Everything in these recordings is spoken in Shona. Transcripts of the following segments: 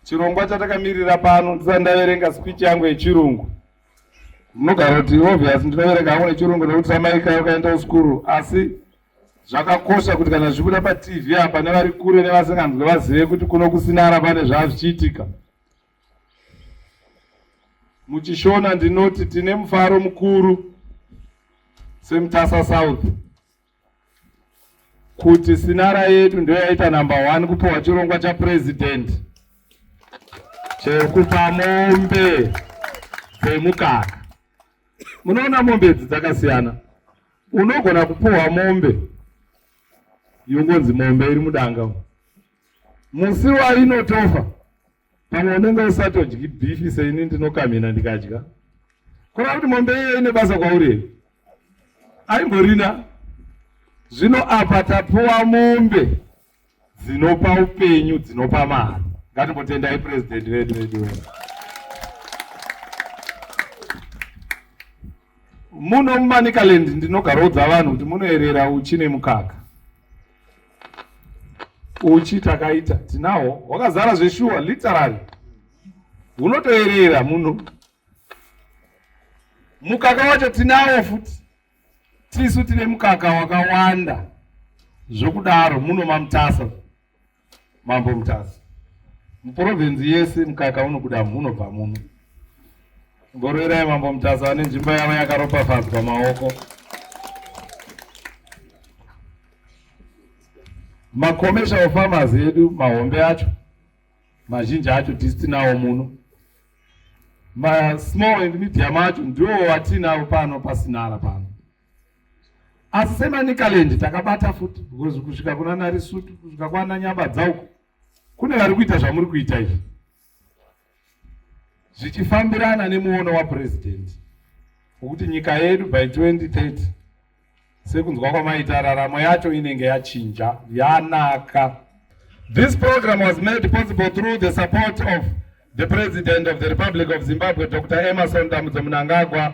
chirongwa chatakamirira pano ndisati ndaverenga speech yangu yechirungu munogara kuti obvious ndinoverenga hangu nechirungu nekuti samaika ukaenda kuskuru asi zvakakosha kuti kana zvibuda patv apa nevari kure nevasinganzwe vazive kuti kuno kusinara pane zvava zvichiitika muchishona ndinoti tine mufaro mukuru semutasa south kuti sinara yedu ndoyaita number one kupiwa chirongwa chapurezidendi chekupa mombe dzemukaka. Munoona mombe idzi dzakasiyana, unogona kupiwa mombe yongonzi mombe iri mudanga, musi wainotofa pamwe unenge usatodyi bhifi seini ndinokamhina ndikadya kureva kuti mombe iye ine basa kwauri here aimborina zvino apa tapuwa mombe dzinopa upenyu dzinopa mari ngatimbotendai purezidenti vedu vedu muno mumanicaland ndinogaroudza vanhu kuti munoerera uchi nemukaka uchi takaita tinawo hwakazara zveshuwa literally hunotoerera muno mukaka wacho tinawo futi tisu tine mukaka wakawanda zvokudaro muno mamutasa Mambo Mutasa, muprovenzi yese mukaka unobuda munobva muno. Ngoroerai Mambo Mutasa vane nzvimbo yavo yakaropafadzwa maoko. Makomesha ofamazi edu mahombe acho mazhinji acho tisitinawo muno masmall and medium acho ndiwo watinawo pano pasinara pano asi semanicaland takabata futi because kusvika kuna narisutu kusvika kwana nyaba dzauko kune vari kuita zvamuri kuita izvi zvichifambirana nemuono wapurezidendi wekuti nyika yedu by 2030 sekunzwa kwamaita raramo yacho inenge yachinja yanaka this program was made possible through the support of the president of the republic of zimbabwe dr emerson damudzomunangagwa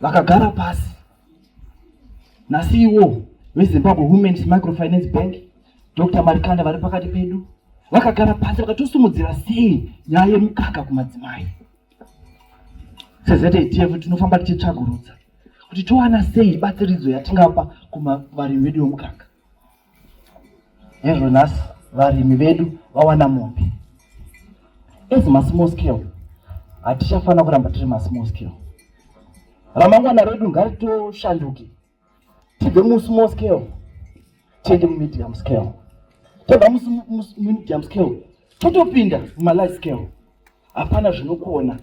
vakagara pasi nasiwo vezimbabwe womens microfinance bank dr marikanda vari pakati pedu vakagara pasi vakatosimudzira sei nyaya yemukaka kumadzimai sezatf tinofamba tichitsvagurudza kuti towana sei batsiridzo yatingapa kuvarimi vedu vemukaka Hezvo nhasi varimi vedu vawana mombe. As masmall scale, hatichafanira kuramba tiri masmall scale. Ramangwana redu ngaritoshanduke tibve musmall scale tiende mumedium scale. Tobva mumedium scale totopinda mumalife scale. hapana zvinokuona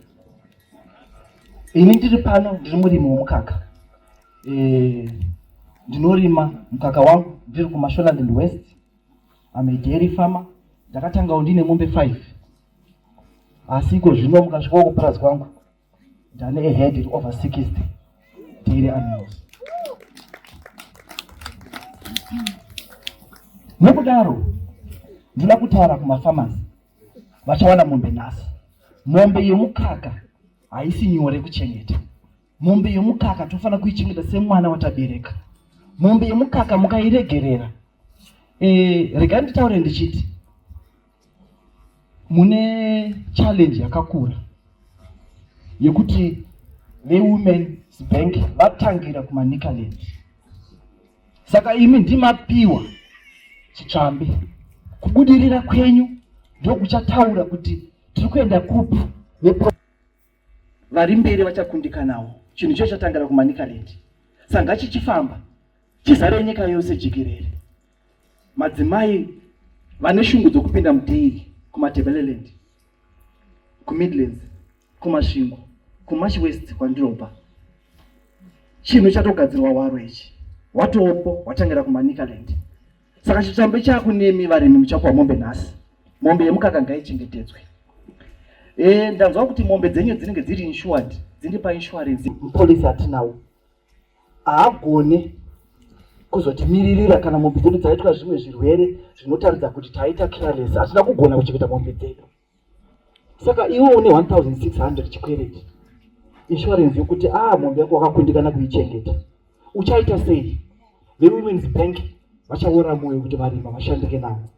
ini ndiri pano ndiri murimi wemukaka e, ndinorima mukaka wangu ndiri kumasholand and west amedairy farmer ndakatangawo ndine mombe five asi iko zvino mukasvikawo kupurazi kwangu ndane ahead iri over sixty dairy animals nokudaro ndinoda kutaura kumafarmasi vachawana mombe nhasi. Mombe yemukaka haisi nyore kuchengeta. Mombe yemukaka tofana kuichengeta semwana watabereka. Mombe yemukaka mukairegerera. Eh, rega nditaure ndichiti mune challenge yakakura yekuti veWomen's Bank vatangira kumaNicaland. Saka imi ndimapiwa chitsvambe, kubudirira kwenyu ndokuchataura kuti tiri kuenda kupi. Vari mberi vachakundikanawo, chinhu icho chatangira kuManicaland, sanga chichifamba chizare nyika yose jikerere. Madzimai vane shungu dzokupinda mudhiri kuMatabeleland kumidlands kumasvingo kumash west kwandirobva chinhu chatogadzirwa waro ichi watoopo watangira kumanicaland saka chitambo chakunemi varimi muchapuwa mombe nhasi mombe yemukaka ngaichengetedzwe e, ndanzwa kuti mombe dzenyu dzinenge dziri insured dziri painsurance polisi hatinawo haagone kuzotimiririra kana mombe dzedu dzaitwa zvimwe zvirwere zvinotaridza kuti taita careless hatina kugona kuchengeta mombe dzedu saka iwe une 1600 chikwereti insurance yokuti a ah, mombe yako wakakundikana kuichengeta uchaita sei vewomen's bank vachaora moyo kuti varima vashandike navo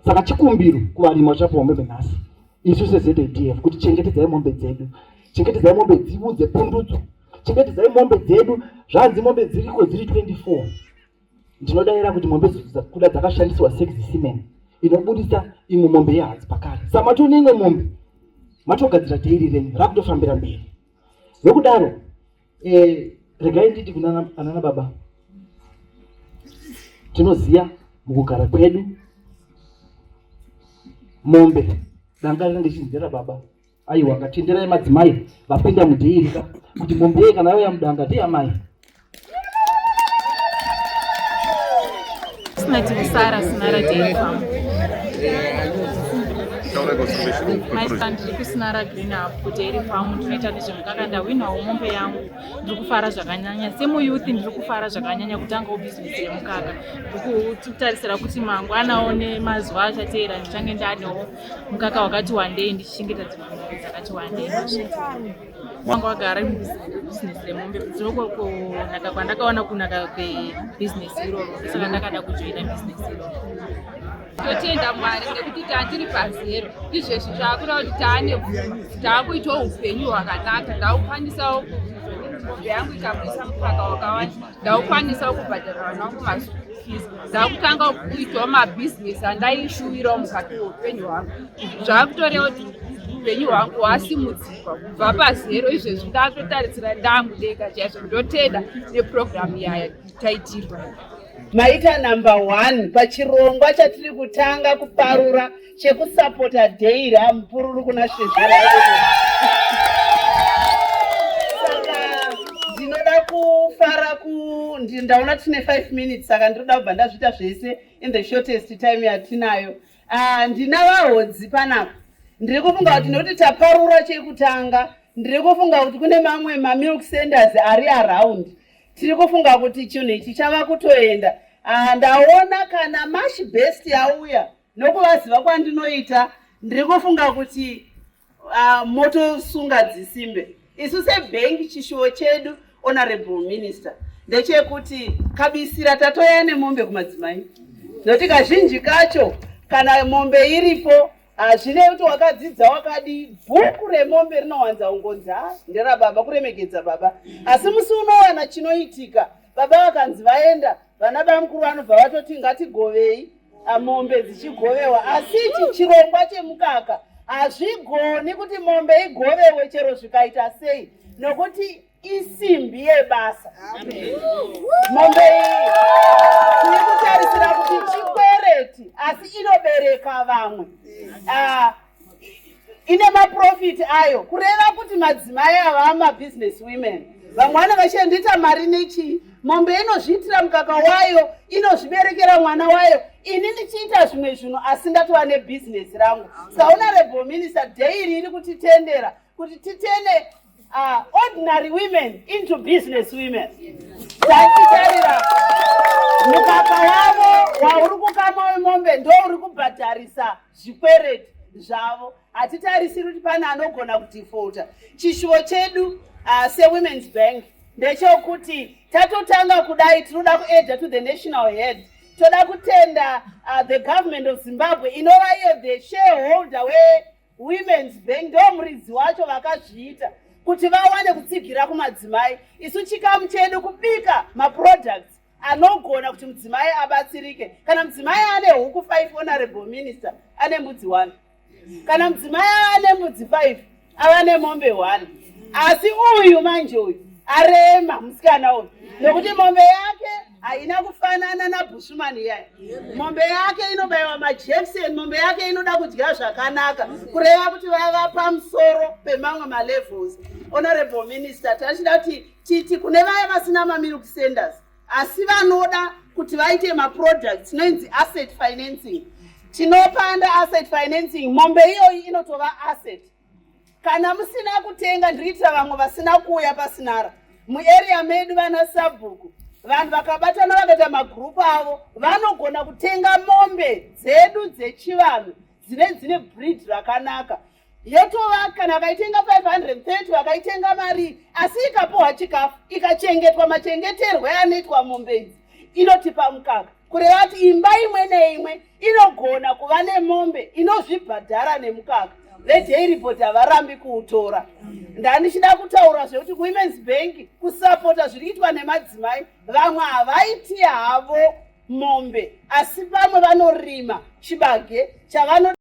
saka chikumbiro kuvarimi vachapiwa mombe nhasi isu sezadf kuti chengetedzai mombe dzedu chengetedzai mombe dzivo dzepundudzo chengetedzai mombe dzedu zvanzi mombe dziriko dziri 24 ndinodaira kuti mombe kuda dzakashandiswa seximen inobudisa imwe mombe yehadzi pakare sa matone imwe mombe matogadzira teiri renyu rakutofambira mberi nokudaro Eh, regai nditi kunana anana baba tinoziva mukugara kwedu mombe danga rinenge chinzera baba aiwa ngatenderai madzimai vapinda mudhiirika kuti mombe yeye kana yauya mudanga ndiamai Sina tikusara sina radeifamu maizva ndiri kusina ragreen up kuti iri famu ndinoita nezvemukaka ndahwinawo mombe yangu ndiri kufara zvakanyanya semuyouth ndiri kufara zvakanyanya kutangawo bhizinesi remukaka ndikutarisira kuti mangwanawo nemazuva achateera ndichange ndanewo mukaka wakati wandei ndichichengeta dzimwe mombe dzakati wandei Mwangu agara business remombe zvinoko kunaka kwandakaona kunaka kwebusiness iroro saka ndakada kujoina business iroro totenda mwari nekuti tatiri pazero izvezvi zvaakuda kuti taane taakuitawo upenyu hwakanaka ndaukwanisawo mombe yangu ikamuisa mukaka wakawanda ndaukwanisawo kubhadhara vana wangu mazuku fees ndakutanga kuitawo mabhizinesi andaishuwirawo mukati weupenyu hwangu zvakutorewo upenyu hwangu hwasimudzira kubva pazero izvezvi ndatotarisira ndangu ndega chaizvo ndotenda neprogramu yaya taitirwa maita number one pachirongwa chatiri kutanga kuparura chekusapota dei ramupururu kuna shezvera saka ndinoda kufara ku ndaona tine five minutes saka ndinoda kubva ndazviita zvese in the shortest time yatinayo Ah, ndina vahodzi panapa ndiri kufunga kuti nekuti taparura chekutanga ndiri kufunga kuti kune mamwe mamilk centers ari around tiri kufunga kuti chinhu ichi chava kutoenda Ah, ndaona kana mash best yauya nokuvaziva kwandinoita ndiri kufunga kuti uh, motosunga dzisimbe isu sebhengi chishuwo chedu honorable minister ndechekuti kabisira tatoya nemombe kumadzimai nokuti kazhinji kacho kana mombe iripo hazvine ah, kuti wakadzidza wakadi bhuku remombe rinowanza ungonzi ha nderababa kuremekedza baba asi musi unowana chinoitika baba vakanzi vaenda vana bamukuru vanobva vatoti ngatigovei mombe dzichigovewa asi ichi chirongwa chemukaka hazvigoni kuti mombe igovewe chero zvikaita sei nokuti isimbi yebasa mombe iyi tiri kutarisira kuti chikwereti asi inobereka vamwe ah, ine maprofiti ayo kureva kuti madzimai ava amabusiness women vamwe vane vachendiita mari nechii mombe inozviitira mukaka wayo inozviberekera mwana wayo ini ndichiita zvimwe zvinhu asi ndatova nebhizinesi rangu sahonorable minister dairi iri kutitendera kuti titene uh, ordinary women into business women tatitarira mukaka wavo wauri kukama wemombe ndouri kubhadharisa zvikwereti zvavo hatitarisiri kuti pane anogona kudefaulta chishuvo chedu uh, sewomens bank ndechokuti tatotanga kudai tinoda kuedha to the national head toda kutenda uh, the government of zimbabwe inova iyo the shareholder wewomens bank ndo muridzi wacho vakazviita kuti vawane kutsigira kumadzimai isu chikamu chedu kubika maproducts anogona kuti mudzimai abatsirike kana mudzimai ane huku five honorable minister ane mbudzi one kana mudzimai ane mbudzi five ava nemombe one asi uyu manje uyu arema musikana uyu nokuti mombe yake haina kufanana nabushuman iyaya mombe yake inobayiwa majection mombe yake inoda kudya zvakanaka kureva kuti vava pamusoro pemamwe malevels honorable minister tachida kuti titi kune vaya vasina mamilk senders asi vanoda kuti vaite maproduct tinoinzi asset financing tinopanda asset financing mombe iyoyi inotova asset kana musina kutenga ndiriitira vamwe vasina kuuya pasinara muarea medu vana sabhuku vanhu vakabatana vakaita magrupu avo vanogona kutenga mombe dzedu dzechivanhu dzine dzine breed rakanaka yotova kana vakaitenga 530 vakaitenga marii asi ikapuhwa chikafu ikachengetwa machengeterwe anoitwa mombe idzi inotipa mukaka kureva kuti imba imwe neimwe inogona kuva nemombe inozvibhadhara nemukaka vedaily board havarambi kuutora ndandichida kutaura zvekuti kuwomens bank kusapota zviri kuitwa nemadzimai vamwe havaiti havo mombe asi vamwe vanorima chibage chavano